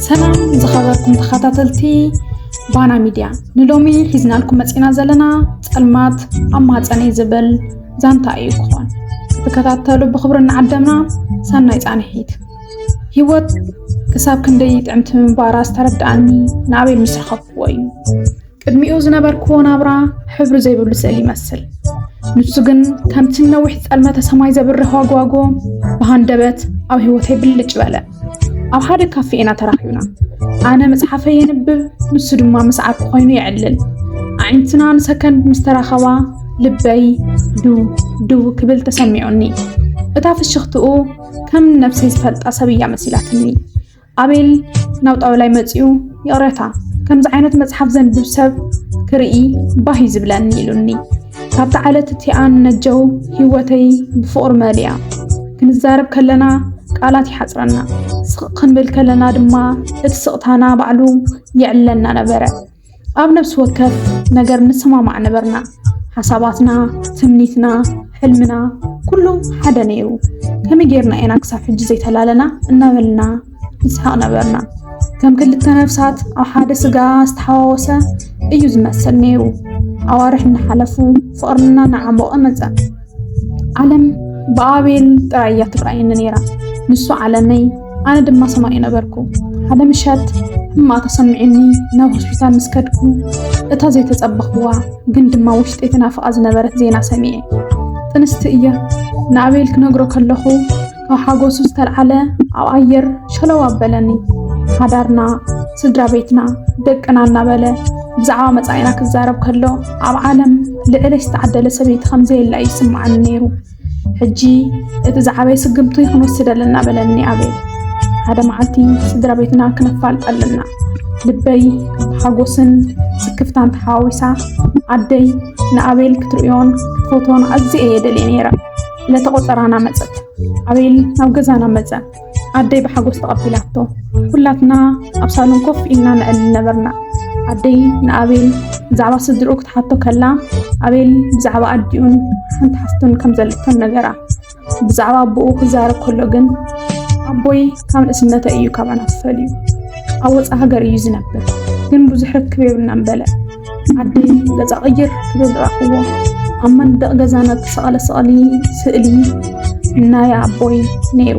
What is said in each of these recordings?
ሰላም ዝኸበርኩም ተኸታተልቲ ባና ሚድያ ንሎሚ ሒዝናልኩም መፂና ዘለና ፀልማት ኣብ ማፀነ ዝብል ዛንታ እዩ ክኾን ክትከታተሉ ብክብሪ እናዓደምና ሰናይ ፃንሒት ህይወት ክሳብ ክንደይ ጥዕምቲ ምንባራ ዝተረድኣኒ ንኣበይ ምስ ረኸብክዎ እዩ ቅድሚኡ ዝነበርክዎ ናብራ ሕብሪ ዘይብሉ ስእሊ ይመስል። ንሱ ግን ከምቲ ነዊሕ ጸልመተ ሰማይ ዘብርህ ዋግዋጎ ብሃንደበት ኣብ ህይወተይ ብልጭ በለ። ኣብ ሓደ ካፌ ኢና ተራኺብና። ኣነ መጽሓፈ የንብብ፣ ንሱ ድማ ምስ ዓርኩ ኮይኑ የዕልል። ኣዒንትና ንሰከንድ ምስ ተራኸባ ልበይ ድው ድው ክብል ተሰሚዑኒ። እታ ፍሽኽትኡ ከም ነብሰይ ዝፈልጣ ሰብ እያ መሲላትኒ። ኣቤል ናብ ጣውላይ መጺኡ ይቕረታ ከምዚ ዓይነት መጽሓፍ ዘንብብ ሰብ ክርኢ ባህ እዩ ዝብለኒ ኢሉኒ ካብቲ ዓለት እቲኣ ነጀው ህይወተይ ብፍቕሪ መሊኣ ክንዛረብ ከለና ቃላት ይሓፅረና ስቕ ክንብል ከለና ድማ እቲ ስቕታና ባዕሉ የዕለና ነበረ ኣብ ነፍሲ ወከፍ ነገር ንሰማማዕ ነበርና። ሓሳባትና፣ ትምኒትና፣ ሕልምና ኩሉ ሓደ ነይሩ። ከመይ ጌርና ኢና ክሳብ ሕጂ ዘይተላለና እናበልና ንስሓቕ ነበርና። ከም ክልተ ነፍሳት ኣብ ሓደ ስጋ ዝተሓዋወሰ እዩ ዝመስል ነይሩ። ኣዋርሕ እናሓለፉ ፍቕርና እናዓሞቐ መጸ። ዓለም ብኣቤል ጥራይ እያ ትርኣየኒ ነይራ። ንሱ ዓለመይ፣ ኣነ ድማ ሰማዩ ነበርኩ። ሓደ ምሸት ሕማቕ ተሰሚዑኒ ናብ ሆስፒታል ምስ ከድኩ እታ ዘይተጸበኽዋ ግን ድማ ውሽጢ ተናፍቓ ዝነበረት ዜና ሰሚዐ። ጥንስቲ እየ ንኣቤል ክነግሮ ከለኹ ካብ ሓጎሱ ዝተልዓለ ኣብ ኣየር ሸለው ኣበለኒ ሓዳርና ስድራ ቤትና ደቅና እናበለ ብዛዕባ መፃኢና ክዛረብ ከሎ ኣብ ዓለም ልዕለ ዝተዓደለ ሰበይቲ ከምዘየላ እዩ ይስምዓኒ ነይሩ ሕጂ እቲ ዝዓበየ ስግምቱ ክንወስድ ኣለና በለኒ ኣቤል ሓደ መዓልቲ ስድራ ቤትና ክነፋልጥ ኣለና ልበይ ሓጎስን ስክፍታን ተሓዋዊሳ ኣደይ ንኣቤል ክትርእዮን ክትፈትዎን ኣዝየ እየ ደልየ ነይረ ዕለተ ቆፀራና መፀት። ኣቤል ናብ ገዛና መፀ። ኣደይ ብሓጎስ ተቐቢላቶ። ኩላትና ኣብ ሳሎን ኮፍ ኢልና ነዕልል ነበርና። ኣደይ ንኣቤል ብዛዕባ ስድርኡ ክትሓቶ ከላ ኣቤል ብዛዕባ ኣዲኡን ሓንቲ ሓፍቱን ከም ዘለቶን ነገራ። ብዛዕባ ኣቦኡ ክዛረብ ከሎ ግን ኣቦይ ካብ ንእስነተ እዩ ካባና ዝፈልዩ ኣብ ወፃ ሃገር እዩ ዝነብር ግን ብዙሕ ርክብ የብልናን በለ። ዓደይ ገፃ ቅይር ክብል ረኣኽዎ ኣብ መንደቕ ገዛና ዝተሰቐለ ስቕሊ ስእሊ ናይ ኣቦይ ነይሩ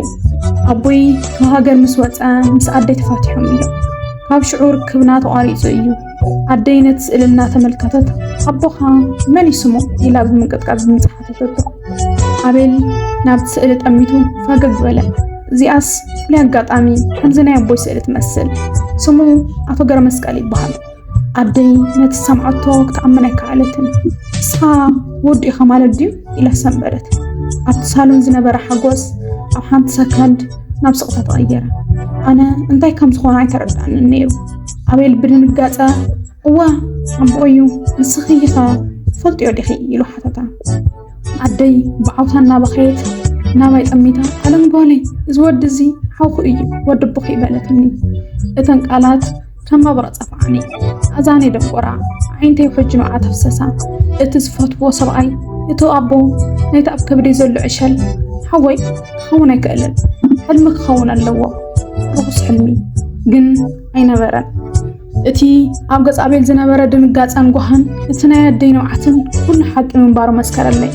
ኣቦይ ካብ ሃገር ምስ ወፀ ምስ ኣደይ ተፋቲሖም እዮም ካብ ሽዑ ርክብና ተቋሪፁ እዩ ኣደይ ነቲ ስእሊ እናተመልከተት ኣቦኻ መን እዩ ስሙ ኢላ ብምንቅጥቃጥ ብምፅሓተተቶ ኣቤል ናብቲ ስእሊ ጠሚቱ ፈገግ በለ እዚኣስ ፍሉይ ኣጋጣሚ ከምዚ ናይ ኣቦይ ስእሊ ትመስል ስሙ ኣቶ ገረመስቀል ይበሃል ኣደይ ነቲ ሰምዓቶ ክትኣምን ኣይከኣለትን። ንስኻ ወዲ ኢኻ ማለት ድዩ ኢላ ሰንበደት። ኣብቲ ሳሎን ዝነበረ ሓጎስ ኣብ ሓንቲ ሰከንድ ናብ ስቕታ ተቐየረ። ኣነ እንታይ ከም ዝኾነ ኣይተረድኣንን ነይሩ። ኣቤል ብድንጋጸ እወ ኣቦ እዩ ንስኺ ኢኻ ትፈልጥዮ ዲኺ ኢሉ ሓተታ። ኣደይ ብዓውታ እናበኸየት ናባይ ጠሚታ ኣለም ጓለይ እዚ ወዲ እዚ ሓውኹ እዩ ወዲ ኣቦኺ በለትኒ። እተን ቃላት ከም መብረቕ ጸፍዓኒ ኣዛኒ ደንቆራ ኣዒንተይ ሕጂ ንዓ ተፍሰሳ እቲ ዝፈትዎ ሰብኣይ እቲ ኣቦ ናይቲ ኣብ ከብዲ ዘሎ ዕሸል ሓወይ ክኸውን ኣይክእልን ሕልሚ ክኸውን ኣለዎ ርኹስ ሕልሚ ግን ኣይነበረን እቲ ኣብ ገጽ ኣቤል ዝነበረ ድንጋጸን ጓህን እቲ ናይ ኣደይ ንብዓትን ኩሉ ሓቂ ምንባሩ መስከረለይ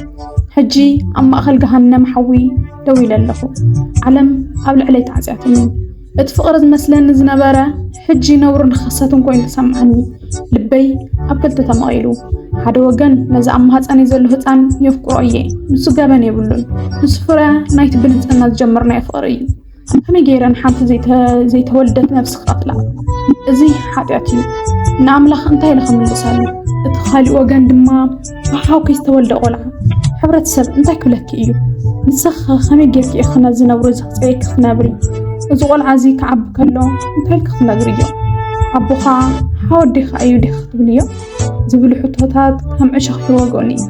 ሕጂ ኣብ ማእኸል ገሃነም ሓዊ ደው ኢለ ኣለኹ ዓለም ኣብ ልዕለይ ተዓጽያትኒ እቲ ፍቕሪ ዝመስለኒ ዝነበረ ሕጂ ነውርን ርኽሰትን ኮይኑ ተሰምዓኒ። ልበይ ኣብ ክልተ ተመቒሉ። ሓደ ወገን ነዚ ኣብ ማህፀነይ ዘሎ ህፃን የፍቅሮ እየ፣ ንሱ ገበን የብሉን፣ ንሱ ፍረ ናይቲ ብንፅህና ዝጀመርናዮ ፍቕሪ እዩ። ከመይ ገይረ ንሓንቲ ዘይተወልደት ነፍሲ ክቐትላ? እዚ ሓጢኣት እዩ፣ ንኣምላኽ እንታይ ኢለ ክምልሰሉ? እቲ ካሊእ ወገን ድማ ብሓውኪ ዝተወልደ ቆልዓ ሕብረተሰብ እንታይ ክብለኪ እዩ ንስኺ ከመይ ጌርኪ ኢኺ ነዚ ነብሮ እዚ ክፅበየኪ ክትነብሪ እዚ ቆልዓ እዚ ክዓቢ ከሎ እንታይ ኢልኪ ክትነግሪ እዮ ኣቦኻ ሓወዲኻ እዩ ዲኺ ክትብልዮ ዝብሉ ሕቶታት ከም ዕሸኽ ይወግኡኒ እዩ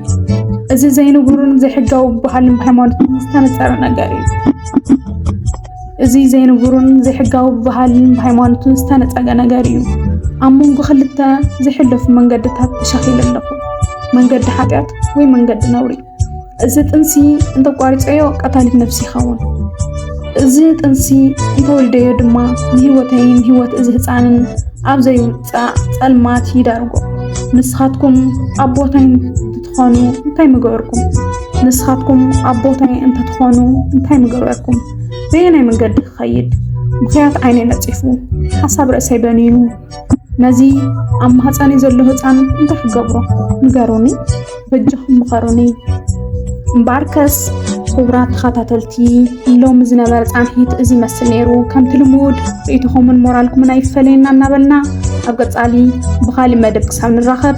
እዚ ዘይንቡርን ዘይሕጋዊ ባህልን ሃይማኖትን ዝተነፀረ ነገር እዩ እዚ ዘይንቡርን ዘይሕጋዊ ብባህልን ብሃይማኖትን ዝተነፀገ ነገር እዩ። ኣብ መንጎ ክልተ ዝሕለፉ መንገድታት ተሻኺለ ኣለኹ፣ መንገዲ ሓጢኣት ወይ መንገዲ ነውሪ። እዚ ጥንሲ እንተቋሪፀዮ ቀታሊት ነፍሲ ይኸውን። እዚ ጥንሲ እንተወሊደዮ ድማ ንህይወተይን ህይወት እዚ ህፃንን ኣብ ዘይውፃእ ፀልማት ይዳርጎ። ንስኻትኩም ኣብ ቦታይ ትኾኑ እንታይ ምገበርኩም? ንስኻትኩም ኣብ ቦታይ እንተትኾኑ እንታይ ምገበርኩም? በየናይ መንገዲ ክኸይድ? ምኽያት ዓይነይ ነፂፉ፣ ሓሳብ ርእሰይ በኒኑ፣ ነዚ ኣብ ማህፀኒ ዘሎ ህፃን እንታይ ክገብሮ? ንገሩኒ፣ በጃኹም ምኸሩኒ። እምበኣርከስ ክቡራት ተኸታተልቲ ሎሚ ዝነበረ ፃንሒት እዚ ይመስል ነይሩ። ከምቲ ልሙድ ርእይቶኹምን ሞራልኩምን ኣይፈለየና እናበልና ኣብ ቀፃሊ ብኻሊእ መደብ ክሳብ ንራኸብ